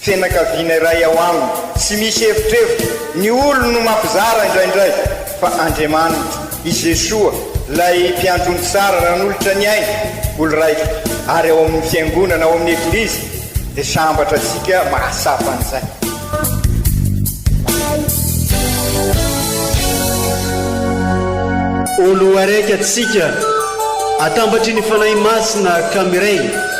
Fianakaviana iray ao aminy. Tsy misy evitrevitra, ny olony no mampizara indraindray, fa Andriamaniny, i Jesoa, ilay Mpiandry ny tsara nanolotra ny ainy, olo raitra, ary ao amin'ny Fiangonana, ao amin'ny Eglizy, dia sambatra antsika mahatsapa an'izay. Olo araiky atsika, atambatry ny Fanahy Masina ka miray.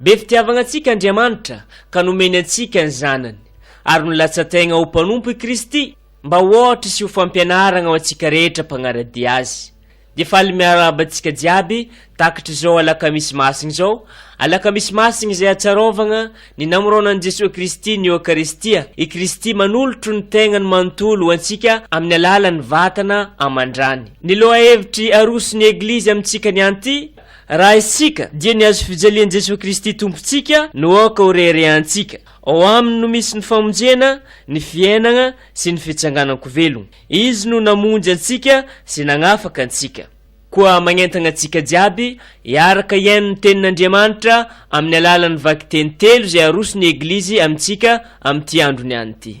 Be fitiavagna antsika Andriamanitra ka nomeny antsika ny Zanany, ary nolatsa-tegna ho mpanompo i Kristy mba ho ôhatra sy ho fampianaragna ho antsika rehetra mpagnara-dia Azy. Dia faly miarahaba antsika jiaby takatr'izao Alakamisy Masigny izao, Alakamisy Masigny izay atsarôvagna ny namorônan'i Jesoa Kristy ny Eokaristia, i Kristy manolotro ny tegnany manontolo ho antsika amin'ny alalan'ny vatana aman-drany. Ny lôha-hevitry aroso ny Eglizy amintsika nianty, Raha isika dia ny hazo fijalian'i Jesoa Kristy Tompontsika no aoka ho reharehantsika. Ao Aminy no misy ny famonjena, ny fiainana sy ny fitsanganan-ko velogna. Izy no namonjy antsika sy nagnafaka antsika. Koa magnentana antsika jiaby hiaraka hihaino ny Tenin'Andriamanitra amin'ny alalan'ny vakiteny telo izay aroson'ny Eglizy amintsika amin'ity andro niany ity.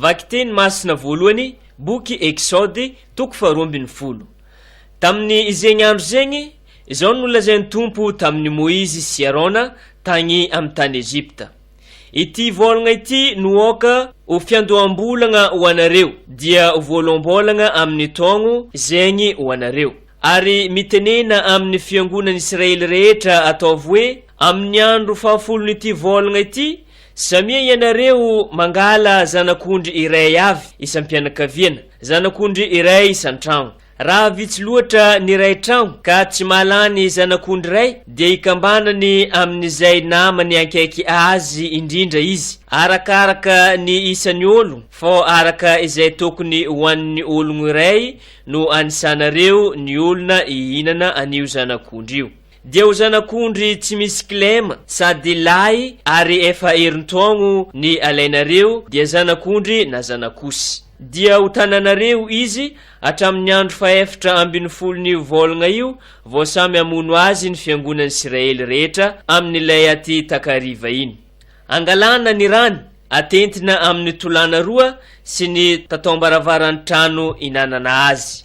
Vakiteny masina voalohany, boky Eksaody, toko faharoa ambin'ny folo. Tamin'ny izegny andro zegny, izao no nolazain'ny Tompo tamin'i Moizy sy Arona tagny amin'ny tany Egypta. Ity vôlagna ity no aoka ho fiandoham-bolagna ho anareo, dia ho voaloham-bôlagna amin' ny taogno zegny ho anareo. Ary mitenena amin' ny fiangonan' Israely rehetra, ataovy hoe, Amin' ny andro fahafolon' ity vôlagna ity, samia ianareo mangala zanak' ondry iray avy isam-pianakaviana, zanak' ondry iray isan-tragno. Raha vitsy loatra ny iray trano ka tsy mahalany zanak'ondry iray dia ikambanany amin'izay namany ankaiky azy indrindra izy, arakaraka ny isan'ny olo, fô araka izay tokony ho an'ny ologno iray no anisanareo ny olona hihinana an'io zanak'ondry io. Dia ho zanak'ondry tsy misy kilema sady lahy ary efa herintaogno ny alainareo dia zanak'ondry na zanak'osy. Dia ho tananareo izy hatramin'ny andro fahefatra ambin'ny folon'io vôlagna io vao samy hamono azy ny fiangonan'Isiraely rehetra amin'ilay aty takariva iny. Angalana ny rany, atentina amin'ny tolàna roa sy ny tataom-baravaran-trano inanana azy.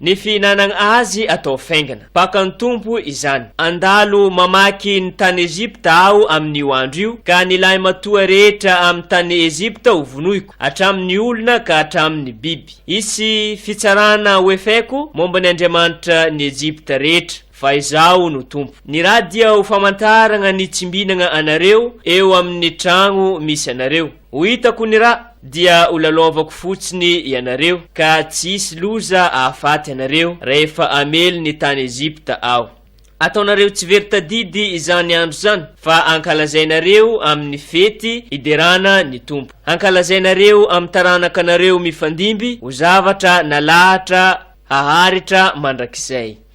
Ny fihinanagna azy atao faingana. Baka ny Tompo izany. Andalo mamaky ny tany Egypta aho amin'io andro io, ka ny lahimatoa rehetra amin'ny tany Egypta ho vonoiko, hatramin'ny olona ka hatramin'ny biby. Hisy fitsarana hoefaiko momba ny andriamanitra ny Egypta rehetra, fa Izaho no Tompo. Ny rà dia ho famantaragna ny tsimbinagna anareo eo amin'ny tragno misy anareo. Ho hitako ny ra dia ho lalaovako fotsiny ianareo, ka tsy hisy loza hahafaty anareo rahefa hamely ny tany Egypta aho. Ataonareo tsy very tadidy izany andro izany, fa hankalazainareo amin'ny fety hiderana ny Tompo. Hankalazainareo amin'ny taranakanareo mifandimby ho zavatra nalahatra haharitra mandrakizay.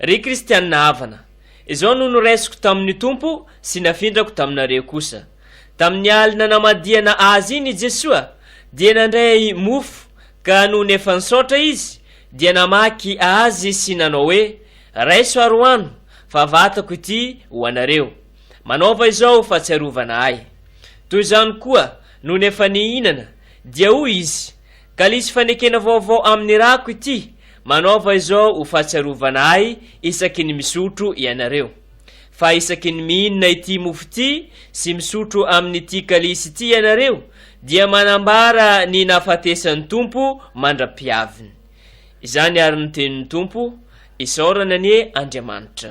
Ry kristianina havana, izao no noraisiko tamin'ny Tompo sy nafindrako taminareo kosa. Tamin'ny alina namadihana Azy iny i Jesoa, dia nandray mofo, ka nony efa nisaotra Izy, dia namaky Azy sy nanao hoe, Raiso ary hohano, fa vatako ity ho anareo. Manaova izao ho fahatsiarovana Ahy. Toy izany koa, nony efa nihinana, dia hoy Izy, Kalisy fanekena vaovao amin'ny rako ity, manaova izao ho fahatsiarovana ahy isaky ny misotro ianareo. Fa isaky ny mihinana ity mofo ity sy misotro amin'ity kalisy ity ianareo dia manambara ny nahafatesan'ny Tompo mandra-pihaviny. Izany àry no tenin'ny Tompo, isaorana anie Andriamanitra.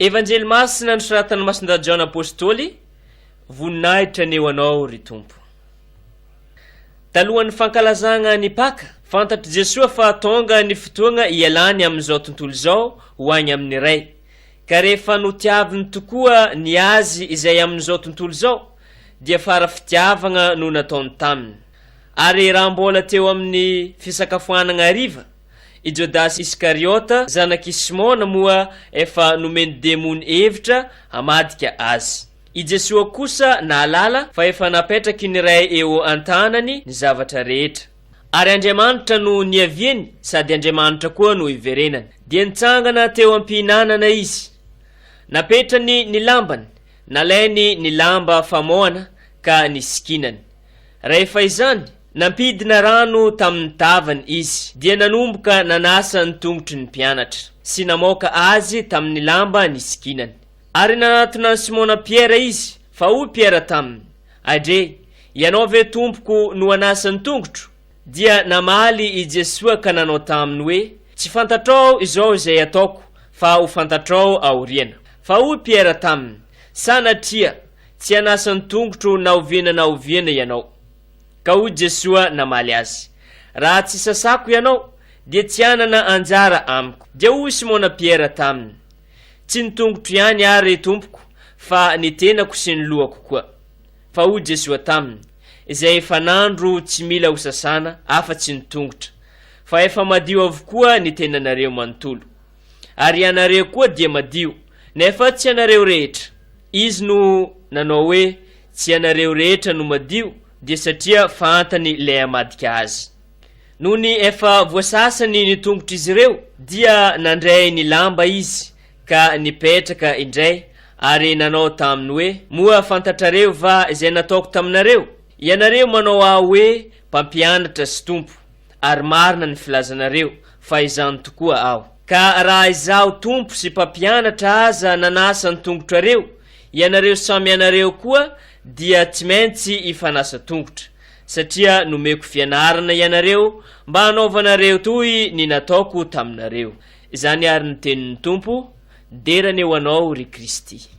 Evanjely masina nosoratan'i Masindahy Jaona Apôstôly, Voninahitra ny eo anao, ry Tompo. Talohan'ny fankalazagna ny Paka, fantatr'i Jesoa fa tônga ny fotoagna ialany amin'izao tontolo izao ho agny amin'ny Ray. Ka rehefa notiaviny tokoa ny Azy izay amin'izao tontolo izao, dia fara fitiavagna no nataony taminy. Ary raha mbôla teo amin'ny fisakafoanagna hariva, I Jodasy Iskariota, zanak'i Simona, moa efa nomen'ny demony hevitra hamadika azy. I Jesoa kosa nahalala fa efa napetraky ny Ray eo an-tanany ny zavatra rehetra. Ary Andriamanitra no niaviany sady Andriamanitra koa no iverenany. Dia nitsangana teo am-pihinanana Izy. Napetrany ny lambany, nalainy ny lamba famoana ka nisikinany. Rehefa izany, Nampidina rano tamin'ny tavany izy, dia nanomboka nanasa ny tongotry ny mpianatra, sy namoaka azy tamin'ny lamba nisikinany. Ary nanatona an'i Simona Piera izy, fa hoy Piera taminy, Adre, ianao ve Tompoko no hanasa ny tongotro? Dia namaly i Jesoa ka nanao taminy hoe, Tsy fantatrao izao izay ataoko, fa ho fantatrao aoriana. Fa hoy Piera taminy, Sanatria, tsy hanasa ny tongotro na oviana na oviana ianao. Ka hoy Jesoa namaly azy, Raha tsy sasako ianao, dia tsy hanana anjara amiko. Dia hoy Simona Piera taminy, Tsy ny tongotro ihany àry, Tompoko, fa ny tenako sy ny lohako koa. Fa hoy Jesoa taminy, Izay efa nandro tsy mila hosasana afa-tsy ny tongotra, fa efa madio avokoa ny tenanareo manontolo. Ary ianareo koa dia madio, nefa tsy ianareo rehetra. Izy no nanao hoe tsy ianareo rehetra no madio dia satria fahantany ilay hamadika azy. Nony efa voasasany ny tongotr'izy ireo, dia nandray ny lamba izy ka nipetraka indray ary nanao taminy hoe, Moa fantatrareo va izay nataoko taminareo? Ianareo manao ahy hoe mpampianatra sy tompo. ary marina ny filazanareo fa izany tokoa aho. Ka raha izaho Tompo sy Mpampianatra aza nanasa ny tongotrareo, ianareo samy ianareo koa dia tsy maintsy hifanasa tongotra, satria nomeko fianarana ianareo mba hanaovanareo toy ny nataoko taminareo. Izany ary ny tenin'ny Tompo, Dera ny ho anao, ry Kristy.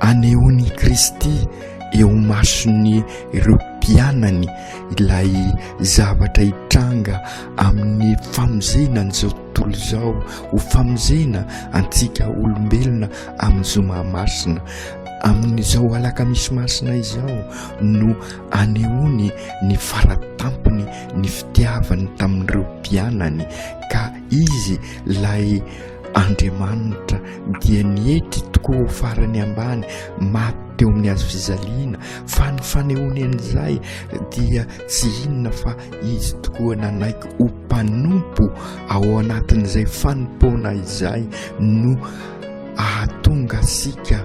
Anehoan'i Kristy eo imason'ny ireo mpianany ilay zavatra hitranga amin'ny famonjena an'izao tontolo izao ho famonjena antsika olombelona amin'ny zoma masina. Amin'izao alakamisy masina izao no anehoany ny faratampony ny fitiavany tamin'ireo mpianany ka izy ilay Andriamanitra dia nietry tokoa ho farany ambany maty teo amin'ny hazo fijaliana, fa ny fanehoany an'izay dia tsy inona fa Izy tokoa nanaiky ho mpanompo ao anatin'izay fanompoana izay no ahatonga antsika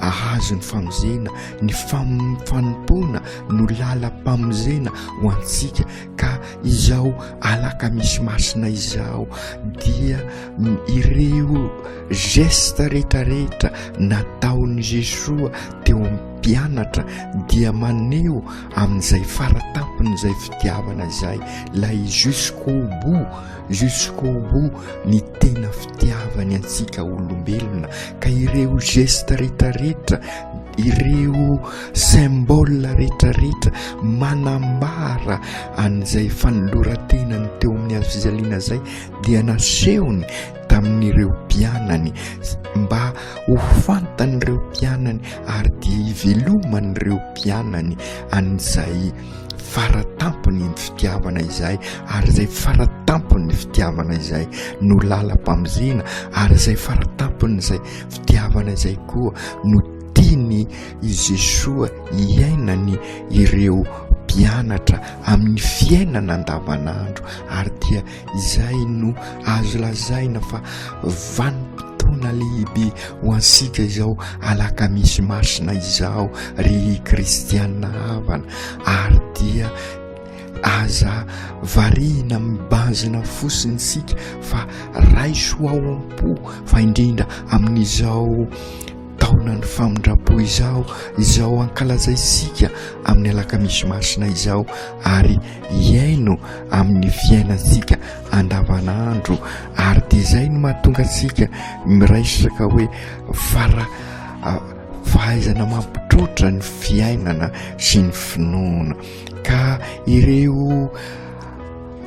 ahazo ny famonjena. Ny fanompoana no lalam-pamonjena ho antsika. Ka izao alakamisy masina izao dia ireo geste rehetra rehetra nataon'i Jesoa teo amin'ny mpianatra dia maneho amin'izay faratampon'izay fitiavana izay lay jusqu'au bout jusqu'au bout ny tena fitiavany antsika olombelona ka ireo geste rehetra rehetra Ireo symbole rehetrarehetra manambara an'izay fanoloran-tenany teo amin'ny hazo fijaliana izay dia nasehony tamin'ireo mpianany mba ho fantan'ireo mpianany ary dia hiveloman'ireo mpianany an'izay faratampony ny fitiavana izay ary izay faratampony ny fitiavana izay no lalam-pamonjena ary izay faratampony izay Fitiavana izay koa no tiany i Jesoa hiainany ireo mpianatra amin'ny fiainana andavanandro ary dia izay no azo lazaina fa vanim-potoana lehibe ho antsika izao alakamisy masina izao ry kristiana havana ary dia Aza varihina amin'ny bazina fosiny isika fa raiso ao am-po fa indrindra amin'izao taonan'ny famindram-po izao, izao ankalazaisika amin'ny alakamisy masina izao ary hiaino amin'ny fiainantsika andavanandro ary dia izay no mahatonga antsika miresaka hoe fara fahaizana mampitroatra ny fiainana sy ny finoana. ka ireo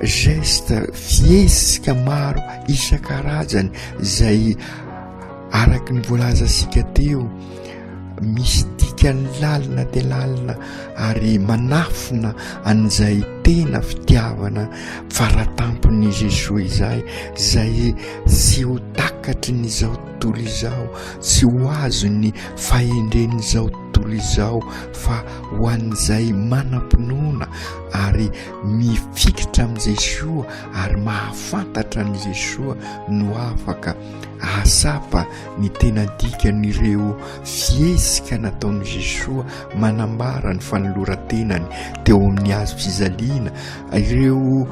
geste fihesika maro isan-karajany zay araky ny voalaza sika teo misy dikany lalina de lalina ary manafina an'izay tena fitiavana faratampon'ny Jesoa izay zay tsy ho takatry ny zao tontolo izao tsy ho azon'ny fahendren'izao Tolizao fa ho an'izay manam-pinoana ary mifikitra amin'i Jesoa ary mahafantatra an'i Jesoa no afaka hahatsapa ny tena dikan'ireo fihetsika nataon'i Jesoa manambara ny fanoloran-tenany teo amin'ny hazo fijaliana, ireo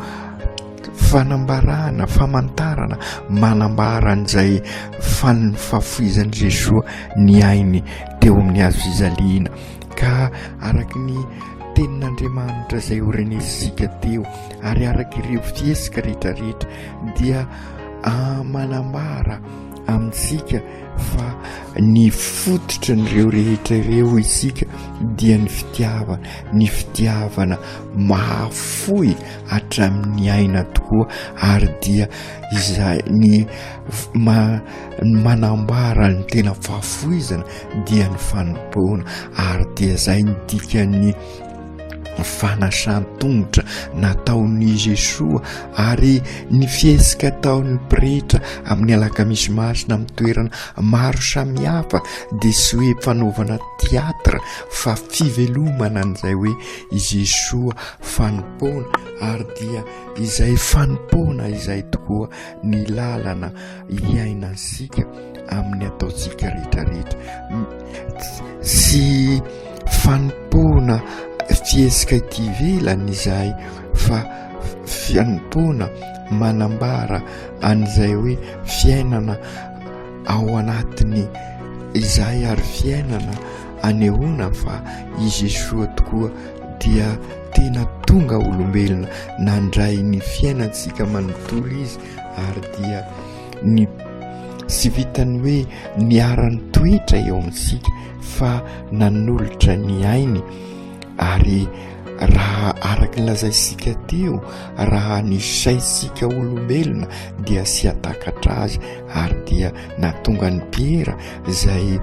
Fanambarana, famantarana, manambara an'izay fahafoizan'i Jesoa ny ainy teo amin'ny hazo fijaliana. Ka araka ny tenin'Andriamanitra izay horenesintsika teo ary araka ireo fihetsika rehetrarehetra dia manambara amintsika fa ny fototry ireo rehetra ireo isika dia ny fitiavana, ny fitiavana mahafoy. hatramin'ny aina tokoa ary dia izay ny ma- ny manambara ny tena fahafoizana dia ny fanompoana ary dia izay ny dikan'ny fanasan-tongotra nataon'i Jesoa ary ny fihesika ataon'ny pretra amin'ny alakamisy masina amin'ny toerana maro samihafa dia tsy hoe fanaovana théâtre fa fivelomana an'izay hoe i Jesoa fanompoana ary dia izay fanompoana izay tokoa ny lalana hiainantsika amin'ny ataontsika rehetrarehetra sy fanompoana fihesika ity ivelany izay fa fianompoana manambara an'izay hoe fiainana ao anatiny izay ary fiainana anehoana fa i Jesoa tokoa dia tena tonga olombelona nandray ny fiainantsika manontolo izy ary dia ny sy vitan'ny hoe niaran'ny toetra eo amintsika fa nanolotra ny ainy ary raha araka ny lazaisika teo raha ny saintsika olombelona dia sy atakatra azy ary dia natonga ny piera izay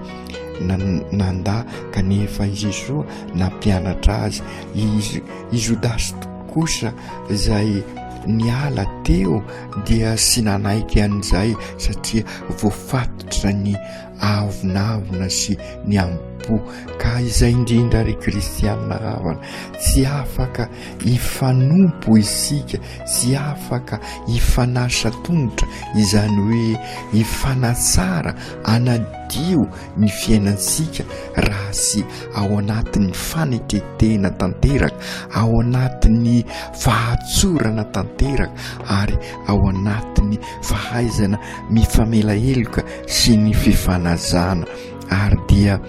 nanda kanefa i Jesoa nampianatra azy izy i Jodasy kosa izay niala teo dia sy nanaiky an'izay satria voafatotra ny avonavona sy ny ampo ka izay indrindra ry kristianina havana tsy afaka hifanompo isika tsy afaka hifanasa tongotra izany hoe hifanatsara ana Dio ny fiainantsika raha tsy ao anatin'ny fanetren-tena tanteraka, ao anatin'ny fahatsorana tanteraka ary ao anatin'ny fahaizana mifamela heloka sy ny fifanajana. Ary dia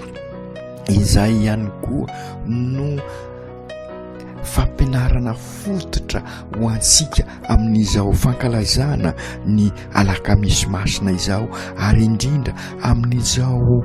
izay ihany koa no. fampianarana fototra ho antsika amin'izao fankalazana ny alakamisy masina izao ary indrindra amin'izao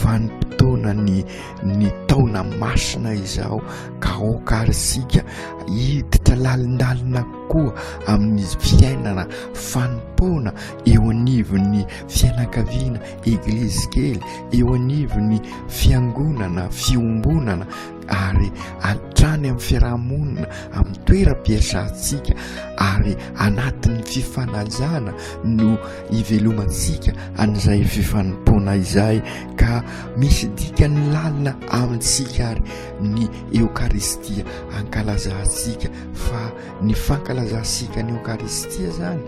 vanim-potoana ny ny taona masina izao ka aoka ary isika hiditra lalindalina koa amin'ny fiainana fanompoana eo anivon'ny fianakaviana eglizy kely eo anivon'ny fiangonana fiombonana ary hatrany amin'ny fiarahamonina amin'ny toeram-piasantsika ary anatin'ny fifanajana no ivelomantsika an'izay fifanompoana izay ka misy dikany lalina amintsika ary ny eokaristia ankalazantsika fa Ny fankalazantsika ny Eokaristia izany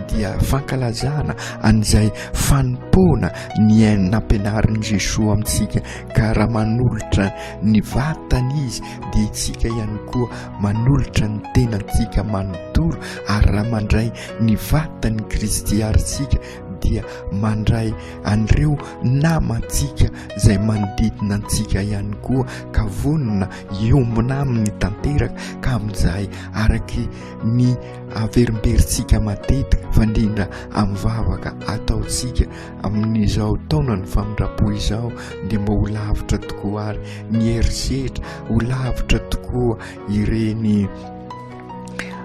dia fankalazana an'izay fanompoana ny ainy nampianarin'i Jesoa amintsika ka raha manolotra ny vatany izy dia itsika ihany koa manolotra ny tenantsika manontolo ary raha mandray ny vatan'i Kristy ary tsika dia mandray an'ireo namantsika izay manodidina antsika ihany koa ka vonona Hiombona aminy tanteraka ka amin'izay araka ny averimberintsika matetika fandrindra amin'ny vavaka ataontsika amin'izao taonan'ny famindram-po izao dia mba ho lavitra tokoa ary ny herisetra, ho lavitra tokoa ireny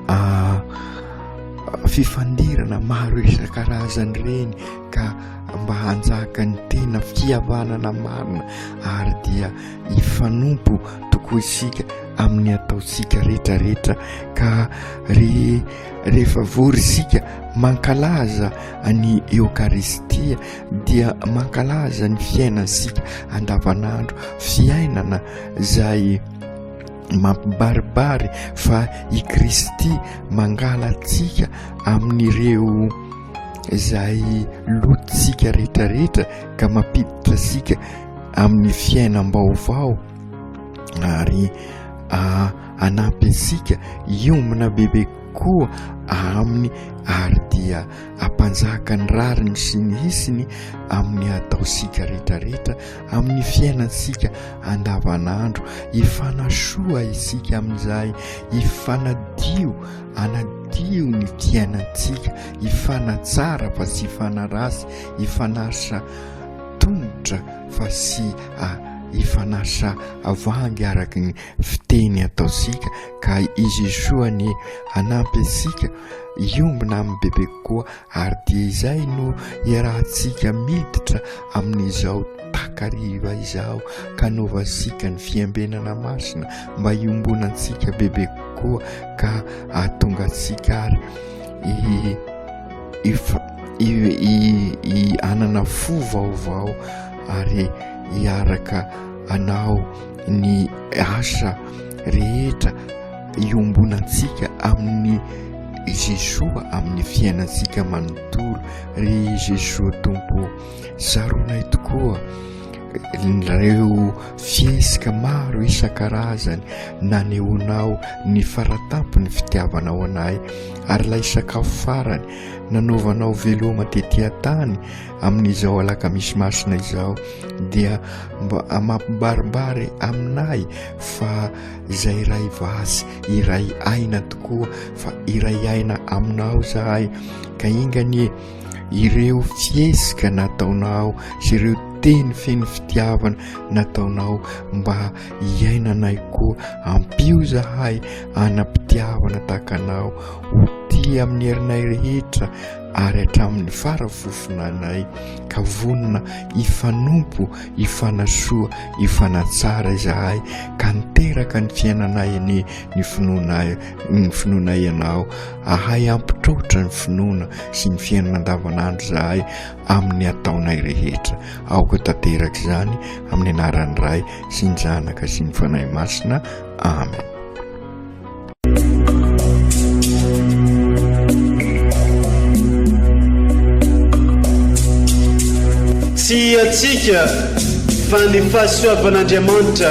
ah, fifandirana maro isan-karazany ireny ka mba hanjaka ny tena fihavanana marina ary dia hifanompo tokoa isika amin'ny ataontsika rehetra rehetra ka re rehefa vory isika mankalaza any eokaristia dia mankalaza ny fiainantsika andavanandro fiainana izay mampibaribary fa i kristy mangalatsika amin'ireo izay lotsika rehetra rehetra ka mampiditra asika amin'ny fiainam-baovao ary hanampy antsika hiombona bebe koa aminy ary dia hampanjaka ny rariny sy ny hisiny amin'ny hataontsika rehetrarehetra amin'ny fiainantsika andavanandro. Hifanasoa isika amin'izay, hifanadio, hanadio ny fiainantsika, hifanatsara fa tsy hifanaratsy, hifanasa. tonotra fa sy ifanasa avangy araka ny fiteny ataontsika ka izy soa ny hanampy antsika hiombona amin'ny bebe kokoa ary dia izay no iarahantsika miditra amin'izao takariva izao ka novansika ny fiambenana masina mba hiombona antsika bebe kokoa ka ahatonga antsika ary i Efa hanana fo vaovao ary hiaraka hanao ny asa rehetra iombonantsika amin'i Jesoa amin'ny fiainantsika manontolo. Ry Jesoa Tompo ô! Zaronay tokoa ireo fihesika maro isan-karazany nanehoanao ny faratampon'ny fitiavanao anay ary ilay sakafo farany nanaovanao veloma tety an-tany amin'izao alakamisy masina izao dia mba mampibaribary aminay fa izay iray vasy iray aina tokoa fa iray aina aminao zahay ka inganie ireo fihesika nataonao sy ireo teny feno fitiavana nataonao mba hiainanay koa ampio zahay anam-pitiavana takanao ho tia amin'ny herinay rehetra ary hatramin'ny farafofonanay ka vonona hifanompo hifanasoa hifanatsara izahay ka niteraka ny fiainanay ny ny finoanay ny finoana ianao ahay ampitrotra ny finoana sy ny fiainana andavanandro zahay amin'ny ataonay rehetra aoka tanteraka izany amin'ny anaran'ny ray sy ny zanaka sy ny fanahy masina amen tsy atsika fa ny fahasoavan'andriamanitra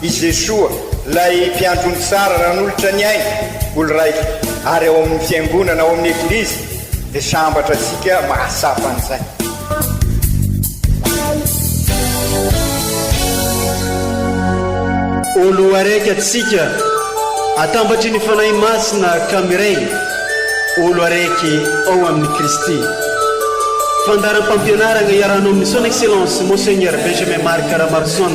I Jesoa, ilay Mpiandry ny tsara nanolotra ny ainy ho lraika ary ao amin'ny Fiangonana, ao amin'ny Eglizy, dia sambatra antsika mahatsapa an'izay. Ho loharaiky antsika atambatry ny Fanahy Masina ka miray ho loharaiky ao amin'i Kristy. Fandaharam-pampianarana iarahanao amin'ny Son Excellence Monseigneur Benjamin Marc Ramaroson.